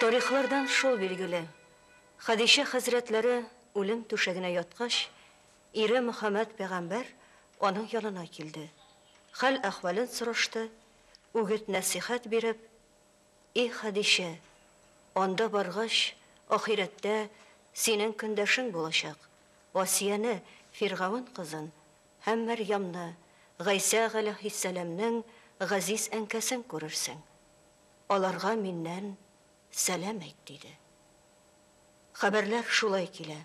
Тарихлардан шул билгеле, Хәдичә хәзрәтләре үлем түшәгенә яткач, ире Мөхәммәд пәйгамбәр аның янына килде, хәл-әхвәлен сорашты, үгет-нәсыйхәт биреп, И Хәдичә, анда баргач, ахирәттә синең көндәшең булачак, Асияне, Фиргавен кызын, Һәм Мәрьямне, Гайсә галәһиссәламнең газиз әнкәсен күрерсең. Аларга миннән сәлам әйт, диде. Хәбәрләр шулай килә.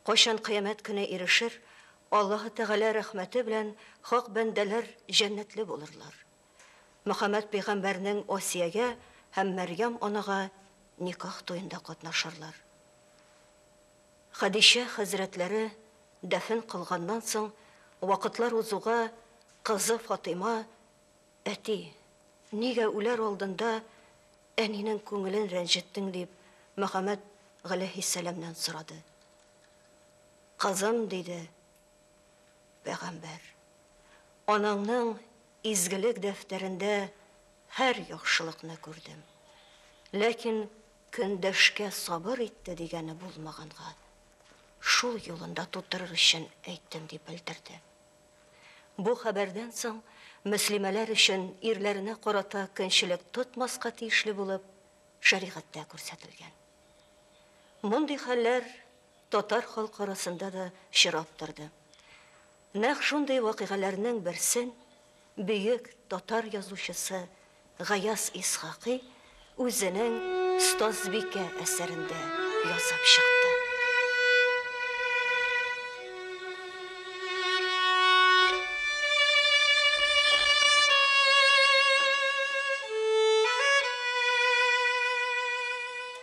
Кайчан кыямәт көне ирешер, Аллаһы Тәгалә рәхмәте белән хак бәндәләр җәннәтле булырлар. Мөхәммәд пәйгамбәрнең Асиягә һәм Мәрьям анага никах туенда катнашырлар. Хәдичә хәзрәтләре дәфен кылганнан соң, вакытлар узуга, кызы Фатыйма, Әти, нигә үләр алдында әнинең күңелен рәнҗеттең? дип, Мөхәммәд галәйһиссәламнән сорады. Кызым, диде пәйгамбәр, анаңның изгелек дәфтәрендә һәр яхшылыкны күрдем. Ләкин Көндәшкә сабыр итте дигәне булмаганга, шул юлында тутырыр өчен әйттем, дип белдерде. Бу хәбәрдән соң мөслимәләр өчен ирләренә карата көнчелек тотмаска тиешле булып шәригатьтә күрсәтелгән. Мондый хәлләр татар халкы арасында да чирап торды. Нәкъ шундый вакыйгаләрнең берсен бөек татар язучысы Гаяз Исхакый үзенең Остазбикә әсәрендә язып чыкты.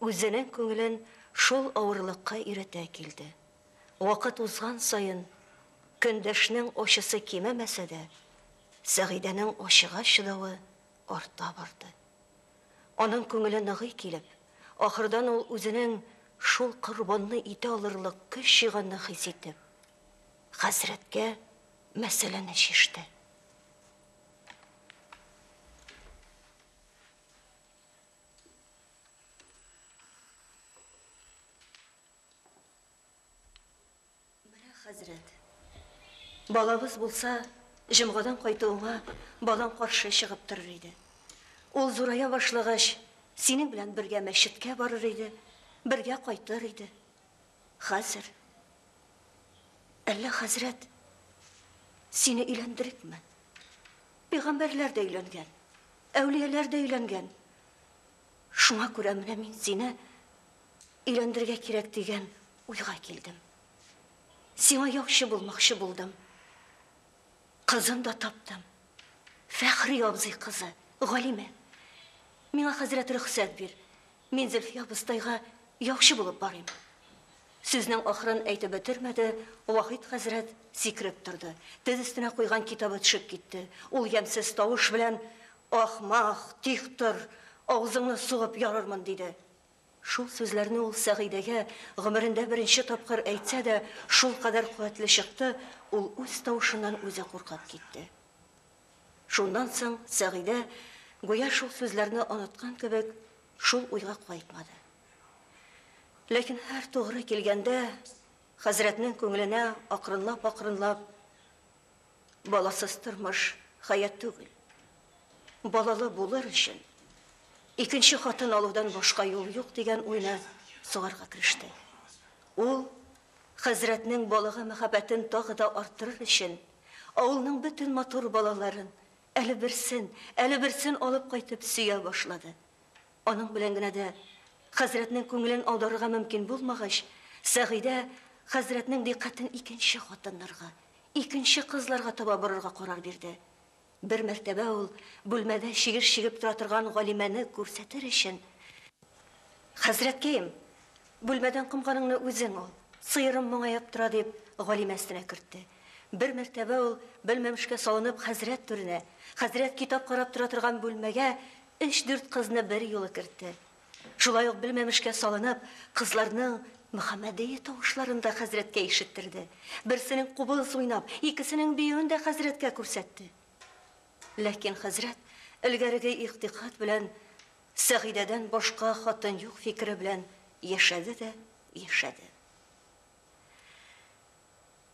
Үзенең күңелен шул авырлыкка өйрәтә килде. Вакыт узган саен, көндәшнең ачысы кимемәсә дә, Сәгыйдәнең ачыга чыдавы арта барды. Аның күңеле ныгый килеп, ахырдан ул үзенең шул корбанны итә алырлык көч җыйганны хис итеп, хәзрәткә мәсьәләне чиште. Менә хәзрәт. Балабыз булса, җомгадан кайтуыңа балаң каршы чыгып торыр иде. Ул зурая башлагач, синең белән бергә мәчеткә барыр иде, бергә кайтыр иде. Хәзер Әллә хәзрәт сине өйләндерикме? Пигамбәрләр дә өйләнгән. Әүлияләр дә өйләнгән. Шуңа күрә менә мин сине өйләндергә кирәк дигән уйга килдем. Сиңа яхшы булмакчы булдым. Кызын да таптым. Фәхри абзый кызы, Галимә. Миңа хәзрәт рөхсәт бир. Мин Зөлфия абыстайга яучы булып барыйм. Сүзнең ахырын әйтеп бетермәде, Вахит хәзрәт сикереп торды. Тез өстенә куйган китабы төшеп китте. Ул ямьсез тавыш белән, Ахмак, тик тор, авызыңны сугып ярырмын, диде. Шул сүзләрне ул Сәгыйдәгә гомерендә беренче тапкыр әйтсә дә, шулкадәр куәтле чыкты, ул үз тавышыннан үзе куркып китте. Шуннан соң Сәгыйдә, гүя шул сүзләрне оныткан кебек, шул уйга кайтмады. Ләкин һәр тугры килгәндә, хәзрәтнең күңеленә акрынлап-акрынлап баласыз тормыш хәят түгел. Балалы булыр өчен икенче хатын алудан башка юл юк дигән уйны сугарга кереште. Ул хәзрәтнең балага мәхәббәтен тагы да арттырыр өчен Авылның бөтен матур балаларын, әле берсен, әле берсен алып кайтып, сөя башлады. Аның белән генә дә хәзрәтнең күңелен аударырга мөмкин булмагач, Сәгыйдә хәзрәтнең дикъкатен икенче хатыннарга, икенче кызларга таба борырга карар бирде. Бер мәртәбә ул бүлмәдә чигеш чигеп тора торган Галимәне күрсәтер өчен, Хәзрәткәем, бүлмәдән комганыңны үзең ал, сыерым моңаеп тора, дип, Галимә өстенә кертте. Бер мәртәбә ул, белмәмешкә салынып, хәзрәт түренә, хәзрәт китап карап тора торган бүлмәгә өч-дүрт кызны берьюлы кертте. Шулай ук белмәмешкә салынып, кызларның Мөхәммәдия тавышларын да хәзрәткә ишеттерде. Берсенең кубыз уйнап, икесенең биюен дә хәзрәткә күрсәтте. Ләкин хәзрәт элгәреге игътикад белән Сәгыйдәдән башка хатын юк фикере белән яшәде дә яшәде.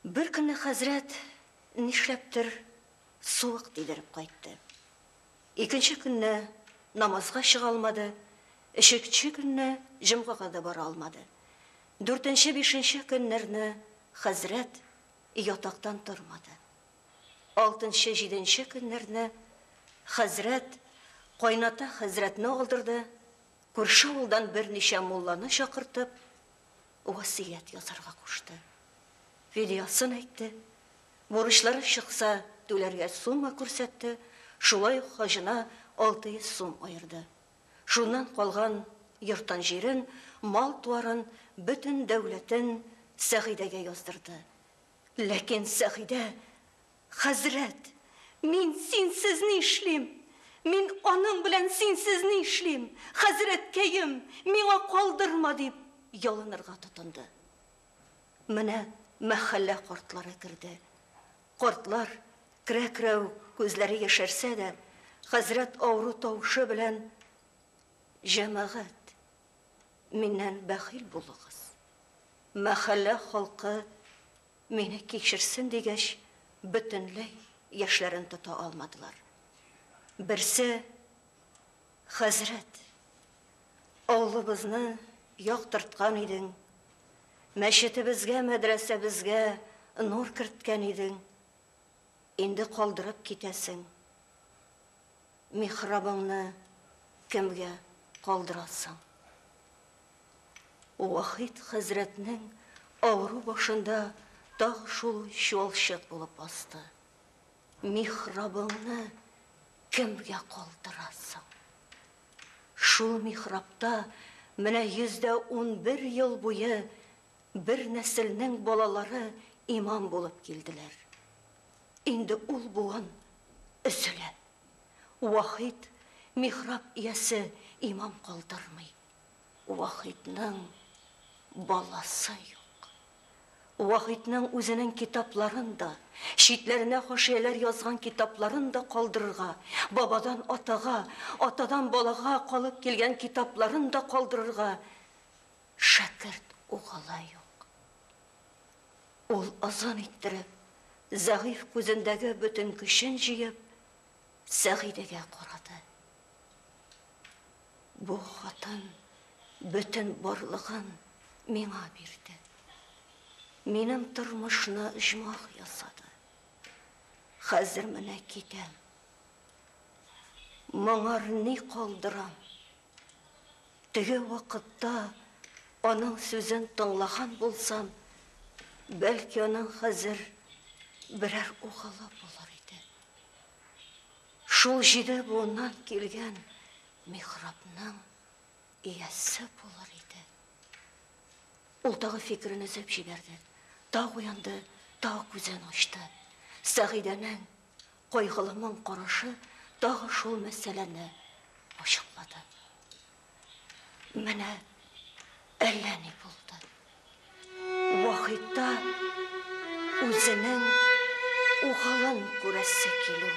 Бер көнне хәзрәт нишләптер суык тидереп кайтты. Икенче көнне намазга чыга алмады, өченче көнне җомгага да бара алмады. Дүртенче, бишенче көннәрне хәзрәт ятактан тормады. Алтынчы, җиденче көннәрне хәзрәт кайната хәзрәтне алдырды, күрше авылдан берничә мулланы чакыртып, васыять язарга кушты. Фидиясын әйтте, Бурычлары чыкса, түләргә сумма күрсәтте, шулай ук хаҗына 600 сум аерды. Шуннан калган йортын-җирен, мал-туарын, бөтен дәүләтен Сәгыйдәгә яздырды. Ләкин Сәгыйдә, Хәзрәт, мин синсез ни эшлим? Мин аның белән синсез ни эшлим? Хәзрәткәем, миңа калдырма! дип ялынырга тотынды. Менә мәхәллә кортлары керде. Кортлар, керә-керәү, күзләре яшәрсә дә, хәзрәт авыру тавышы белән, Җәмәгать, миннән бәхил булыгыз. Мәхәллә халкы мине кичерсен, дигәч, бөтенләй яшьләрен тота алмадылар. Берсе, Хәзрәт! Авылыбызны яктырткан идең, Мәчетебезгә, мәдрәсәбезгә нур керткән идең, Инде калдырып китәсең, Михрабыңны кемгә калдырасың? Вахит хәзрәтнең авыру башында тагы шул чуалчык булып басты, Михрабыңны кемгә калдырасың? Шул михрабта менә йөз дә унбер ел буе бер нәселнең балалары имам булып килделәр. Инде ул буын өзелә. Вахит михраб иясе имам калдырмый. Вахитның баласы юк. Вахитның үзенең китапларын да, читләренә хашияләр язган китапларын да калдырырга, бабадан атага, атадан балага калып килгән китапларын да калдырырга шәкерт угылы юк. Ул озын иттереп, зәгыйфь күзендәге бөтен көчен җыеп, Сәгыйдәгә карады. Бу хатын бөтен барлыгын миңа бирде. Минем тормышны оҗмах ясады. Хәзер менә китәм. Моңар ни калдырам? Теге вакытта аның сүзен тыңлаган булсам, бәлки аның хәзер берәр угылы булыр иде. Шул җиде буыннан килгән михрабның иясе булыр иде. Ул тагы фикерен өзеп җибәрде. Тау уянды, тау күзен ачты. Сәгыйдәнең кайгылымың карашы тагы шул мәсьәләне ачыклады. Менә әллә ни булды. Вахитта үзенең угалын күрәсе килү.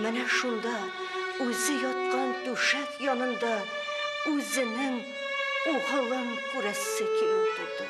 Менә шунда үзе яткан түшәк янында үзенең угалын күрәсе килү булды.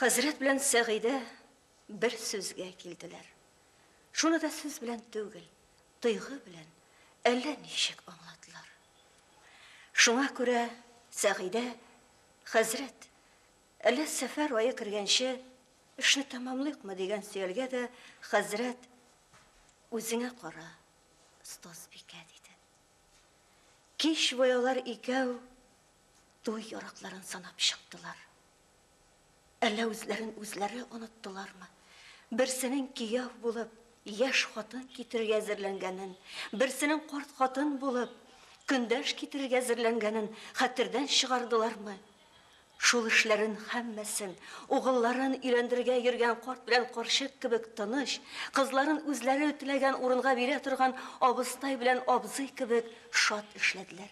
Хәзрәт белән Сәгыйдә бер сүзгә килделәр. Шуны да сүз белән түгел, тойгы белән әллә ничек аңлатылар. Шуңа күрә Сәгыйдә, хәзрәт, әллә сәфәр ае кергәнче эшне тәмамлыйкмы дигән сөялгә дә хәзрәт үзеңә кара, Стозбикә диде. Кич буялар икәү туй яракларын санап чыктылар. Әллә үзләрен үзләре оныттылармы? Берсенең кияү булып, яшь хатын китерергә әзерләнгәнен, берсенең карт хатын булып, көндәш китерергә әзерләнгәнен хәтердән чыгардылармы? Шул эшләрен һәммәсен, угылларын өйләндергә йөргән карт белән карчык кебек тыныч, кызларын үзләре теләгән урынга бирә торган абыстай белән абзый кебек шат эшләделәр.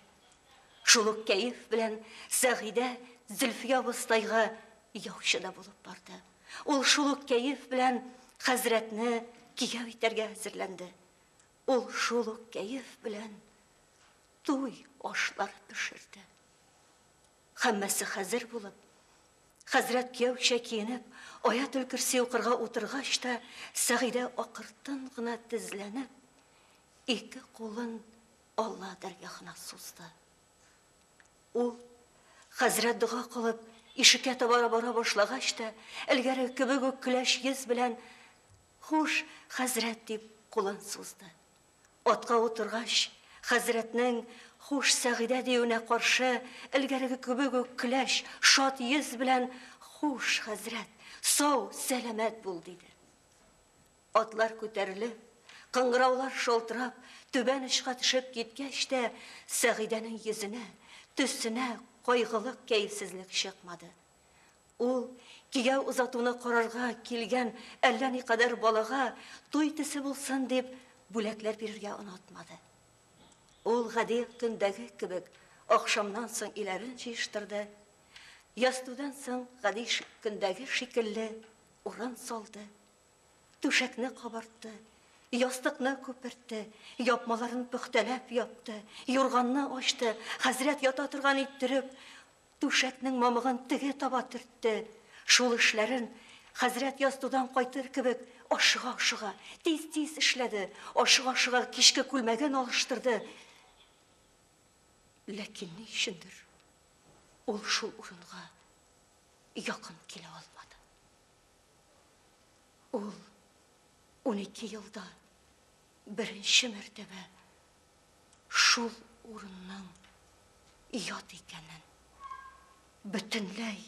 Шул ук кәеф белән Сәгыйдә Зөлфия абыстайга яучы да булып барды. Ул шул ук кәеф белән хәзрәтне кияү итәргә әзерләнде. Ул шул ук кәеф белән туй ашлар пешерде. Хәммәсе хәзер булып, хәзрәт кияүчә киенеп, аят өлкерси укырга утыргач та, Сәгыйдә акыртын гына тезләнеп, ике кулын Алла дәргахына сузды. Ул, хәзрәт дога кылып, ишеккә таба бара башлагач та, элгәре кебек үк көләч йөз белән, Хуш, хәзрәт, дип, кулын сузды. Атка утыргач, хәзрәтнең Хуш, Сәгыйдә диюенә каршы, элгәреге кебек үк көләч, шат йөз белән, Хуш, хәзрәт, сау, сәламәт бул, диде. Атлар күтәрелеп, кыңгыраулар шалтырап, түбән очка төшеп киткәч тә, Сәгыйдәнең йөзенә, төсенә кайгылык, кәефсезлек чыкмады. Ул, кияү озатуны карарга килгән әллә никадәр балага туй төсе булсын дип, бүләкләр бирергә онытмады. Ул гади көндәге кебек ахшамнан соң иләрен җыештырды, ястүдән соң гади көндәге шикелле урын салды. Түшәкне кабартты, ястыкны күпертте, япмаларын пөхтәләп япты, юрганны ачты, хәзрәт ята торган иттереп, түшәкнең мамыгын теге таба төртте. Шул эшләрен хәзрәт ястудан кайтыр кебек ашыга-ашыга, тиз-тиз эшләде, ашыга-ашыга кичке күлмәген алыштырды. Ләкин ни өчендер ул шул урынга якын килә алмады. Ул унике елда беренче мәртәбә шул урынның ят икәнен, бөтенләй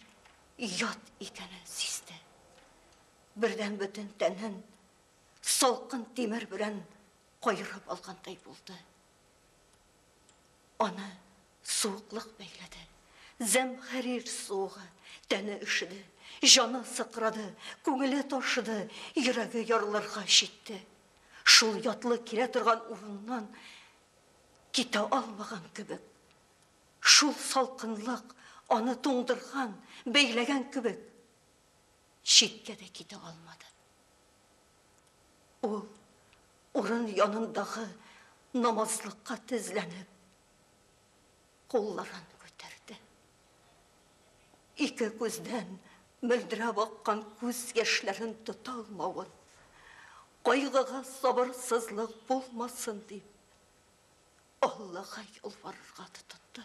ят икәнен сизде. Бердән бөтен тәнен салкын тимер белән кайырып алгандай булды. Аны суыклык бәйләде. Зәмхәрир суыгы. Тәне өшеде. Җаны сыкрады. Күңеле ташыды. Йөрәге ярылырга җитте. Шул ятлы килә торган урыннан китә алмаган кебек. Шул салкынлык аны туңдырган, бәйләгән кебек. Читкә дә китә алмады. Ул урын янындагы намазлыкка тезләнеп, кулларын күтәрде. Ике күздән мөлдерәп аккан күз яшьләрен тота алмавын, кайгыга сабырсызлык булмасын дип, Аллага ялварырга тотынды.